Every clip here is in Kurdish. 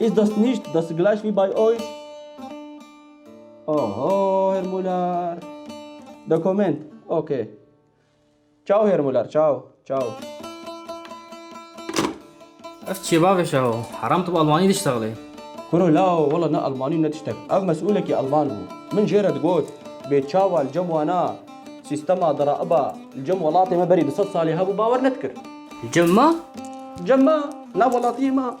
Ist das nicht das gleich wie bei euch? Oho Herr Muller. Dokument. Okay. Ciao Herr Muller. Ciao. Ciao. Ev çi bavê şeho? Heram tu bi Almanî diştexlê. Kuro lao wela ne Almanî ne tiştek. Ev mesûlekî Alman bû. Min jê re digot, bê çawa li cem wana sîstema diraiba li cem welatê me berî du sed salî hebû bawer nedikir. Li cem ma? Cem ma, nav welatiyê ma.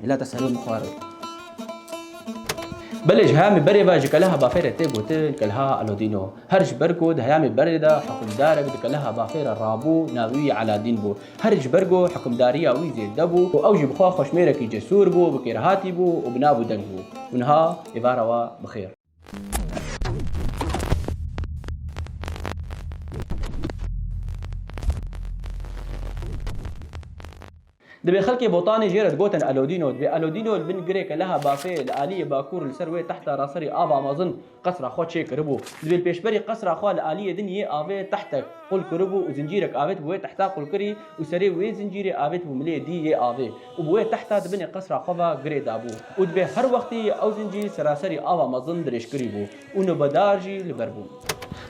Milata serê min xwar e. Belê ji hemî berê ve ji keleha bafê re tê gotin keleha Alodîno. Her ji ber ku di heyamê berê de hukimdarek di keleha bafê re rabû navê wî Eladîn bû. Her ji ber ku hukimdariya wî zêde bû û ew jî bi xwe xweşmêrekî cesûr bû, bi kêrhatî bû û bi nav û deng bû. Û niha êvara we bi xêr. Divê xelkê Botanê jê re digotin Elodîno. Divê Elodîno li bin girêke leha bafê li aliyê bakur li ser wê tehta ra serî ava mezin qesra xwe çê kiribû. Divê li pêşberî qesra xwe li aliyê din yê avê tehtek qul kiribû û zincîrek avêtibû wê tehta qulkirî û serê wê zincîrê avêtibû milê dî yê avê. û bi wê tehta di binê qesra xwe ve girê dabû û divê her wextî ew zincîr seraserî ava mezin dirêjkirî bû û nobedar jî li ber bûn.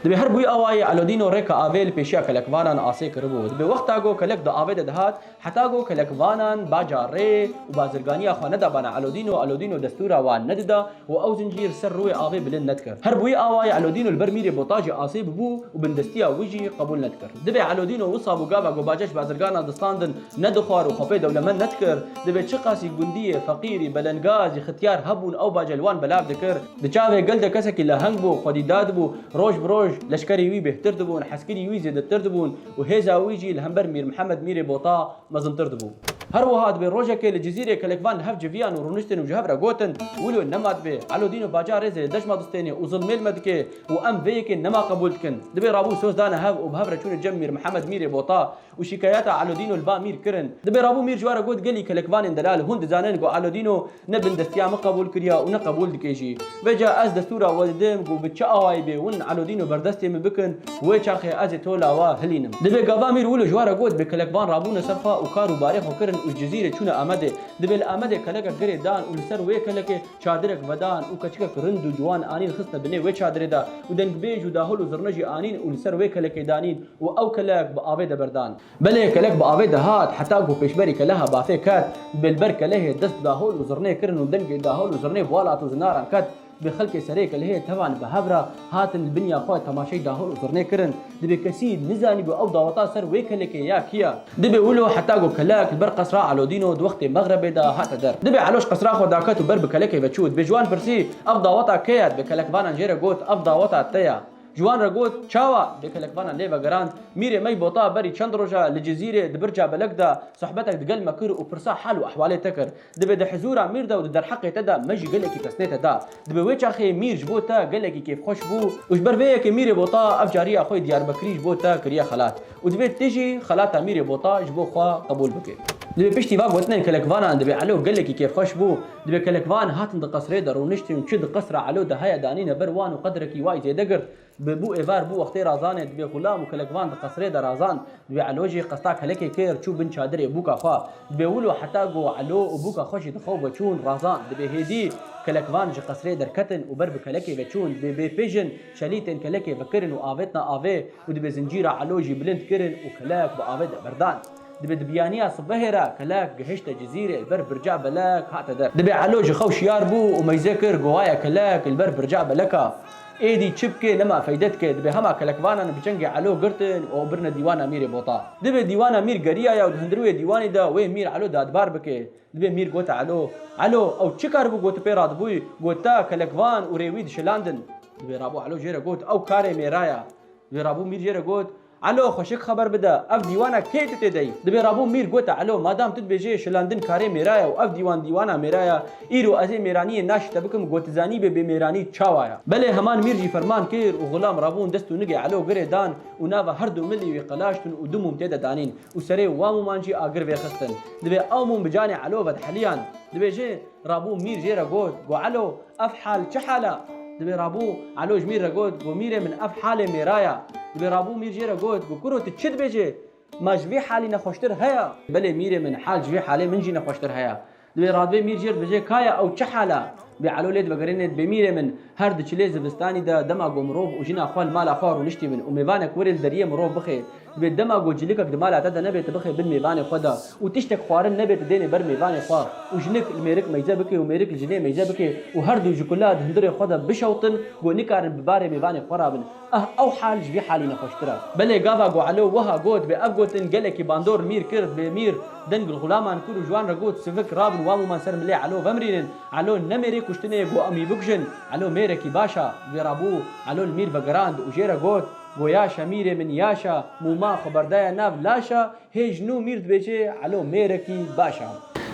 Divê her bûy awayî Elodîno rêka avê li pêşiya kelekvanan asê kiribû û divê wexta ku kelek di avê de dihat heta ku kelekvanan baca rê û bazirganiya xwe nedabana Elodîno, Elodîno destûra wan nedida, û ew zincîr ser rûyê avê bilind nedikir. Her bûyî awa ye Elodîno li ber mîrê botajê asê bibû û bindestiya wî jî qebûl nedikir. Divê Elodîno wisa bû gava ku Baceş bazirgana distandin nedixwar û xwe pê dewlemend nedikir. Divê çiqasî gundiyê, feqîrî, belengazî, xityar hebûn ew bace li wan belav dikir. Di çavê gel de kesekî leheng bû, xwedî dadibû. Roj bi roj leşkerê wî bêhtir dibûn, heskirî wî zêdetir dibûn û hêza wî jî li hember Mîr Mihemed mîrê bota, mezintir dibû. Her wiha dibê rojekê li Cizîrê kelek van li hev civiyan û rûniştin û ji hev re gotin, Wilo nema dibê. Elodîno Baca rêzê li dejma distênê û zilmê li me dike û em vê yekê nema qebûl dikin. Dibê rabû soz dane hev û bi hev re çûne cem Mîr Mihemed Mîrê Bota û şîkayeta Elodîno li ba Mîr kirin. Dibê rabû Mîr ji we re got gelî kelek vanên delal hûn dizanin ku Elodîno Ne bindestiya min qebûl kiriya û ne qebûl dike jî. Veca ez destûra we didim ku bi çi awayî bê win Elodîno berdestê min bikin, wê çaxê ez ê to la we hilînim. Divê gava mîr wilo ji we re got bê kelek van rabûne ser xwe û kar û barê xwe kirin û ji Cizîrê çûne Amedê. Divê li Amedê kelekek girê dan û li ser wê kelekê çadirek vedan û keçikek rind û ciwan anîn xistine binê wê çadirê de û dengbêj û dahol û zirne jî anîn û li ser wê kelekê danîn û ew kelek bi avê de berdan. Belê kelek bi avê de hat, heta ku pêşberî keleha bafê ket, bi li ber kelehê dest dahol û zirnê kirin û dengê dahol û zirnê bi welat û zinaran ket. Divê xelkê serê kelehê tevan li behev re hatin li binîya xwe temaşey dahol û zirnê kirin. Divê kesî nizanîbû ew daweta ser wê kelekê ya kî ye. Divê wilo heta ku kelek li ber qesra Elodîn û di wextê mexrebê de hate der. Divê Eloş qesra xwe daket û ber bi kelekê ve çû. Divê ji wan pirsî, Ev daweta kê ye? Divê kelek vanan jê re got, Ev daweta te ye. Ciwan re got, Çawa? Lê kelekvana lê vegerand. Mîrê me yî bota berî çend roja li Cizîrê di birca belek de sohbetek digel me kir û pirsa hal û ehwalê te kir. Divê di hizûra Mîr de û di derheqê te de me jî gelekî pesnê te da. Divê wê çaxê Mîr ji bo te gelekî kêfxweş bû û ji ber vê yekê Mîrê bota ev cariya xwe yê Diyarbekirî ji bo te kiriye xelat. Û divê tu jî xelata Mîrê Bota ji bo xwe qebûl bikî. Divê piştî va gotinên kelekvanan divê Elo gelekî kêfxweş bû, divê kelekvan hatin di qesrê de rûniştin û çi di qesra Elo de heye danîne ber wan û qedrekî way zêde girt. Bi bû êvar bû wextê razanê divê xulam û kelekvan di qesrê de razand. Divê Elo jî qesta kelekê kir çû bin çadirê bûka xwe. Divê wilo heta ku Elo û bûka xwe jî di xew veçûn razand. Divê hêdî kelekvan ji qesrê derketin û ber bi kelekê veçûn. Divê bê pê jin. Çelî tên kelekê vekirin û avêtina avê û divê zincîra elo jî bilind kirin û kelek bi avê de berdan. Divê di biyaniya sibehê re kelek gihişte cizîrê li ber birca belek hate der. Divê elo ji xwe wişyar bû û meyze kir gowaye kelek li ber birca belek a. Êdî çi bike nema feyde dike. Divê hema kelekvanan bi çengê elo girtin û ew birine dîwana mîrê bota. Divê dîwana mîr geriyaya û di hundirûyê dîwanî de wê mîr elo dadbar bike. Dibê mîr gote elo, elo, ew çi karibû goti pê ra dibûy, gota, kelekvan û rê wî dişilandin. Dibê rabû elo jê re got, ew karê mê ra ya. Dibê rabû mîr jê re got, elo, xweşik xeber bide, ev dîwana kê tu tê de yî? Dibê rabû mîr gote elo, madam tu dibêjê şilandin karê mê ra ya û ev dîwan dîwana mê ra ya, îro ez ê mêraniyê naş te bikim got zanîbê bê mêranî çawa ya. Belê heman mîr jî ferman kir û xulam rabûn dest û nigê elo girê dan û nava her du milî wî qelaştin û du mûm tê de danîn. Û serê wan mûman jî agir vêxistin. Divê ew mûm bi canê Elo vedheliyan. Divê jê rabû Mîr jê re got, Go Elo, ev hal çi hal e? Divê rabû Elo ji Mîr re got, Go Mîrê min ev halê mêra ye. Divê rabû Mîr jê re got, Go kuro tu çi dibêjê? Ma ji vê halî nexweştir heye? Belê Mîrê min, hal ji vê halê min jî nexweştir heye. Divê radbê mîr jêr bijê kaya ew çi hal a? Bê elo lê divegerêne dibê mîrê min. Her di çilê zivistanî de dema ku mirov û jina xwe li mala xwe rûniştî bin û mêvanek werê li deriyê mirov bixê. Divê dema ku cîlikek di mala te de nebe tu bixê bin mêvanê xwe de û tiştek xwarin nebe tu dênê ber mêvanê xwe û jinik li mêrik meyze bike û mêrik li jinê meyze bike û her du ji kulat hundirê xwe de bişewtin ku nikarin bi barê mêvanê xwe re bin. Ah ew hal ji vî halî nexweştir e. Belê gava Gualo wiha got bê ev gotin gelekî bandor mîr kird bê mîr din gulxulaman kur û ji wan re got sivik rabin wan wiman ser milê Elo vemrînin Elo ne mêrê kuştinê got em wî bikujin Elo mêrekî baş a vê ra bû Elo li mîr vegerand û jê re got Goya şa mîrê min yaş a mûma xwe berdaye nav laş a Hê ji nû mîr dibêje Elo mêrekî baş a.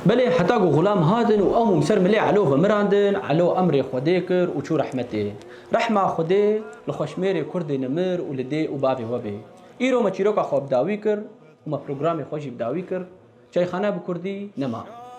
Belê heta ku Xulam hatin û ew mûm ser milê Elo ve mirandin, Elo emrê Xwedê kir û çû rehmetê. Rehma Xwedê li xweşmêrê kurdê nimir û li dê û bavê we bê. Îro me çîroka xwe bi dawî kir û me programê xwe jî bi dawî kir. Çayxane bi kurdî nema.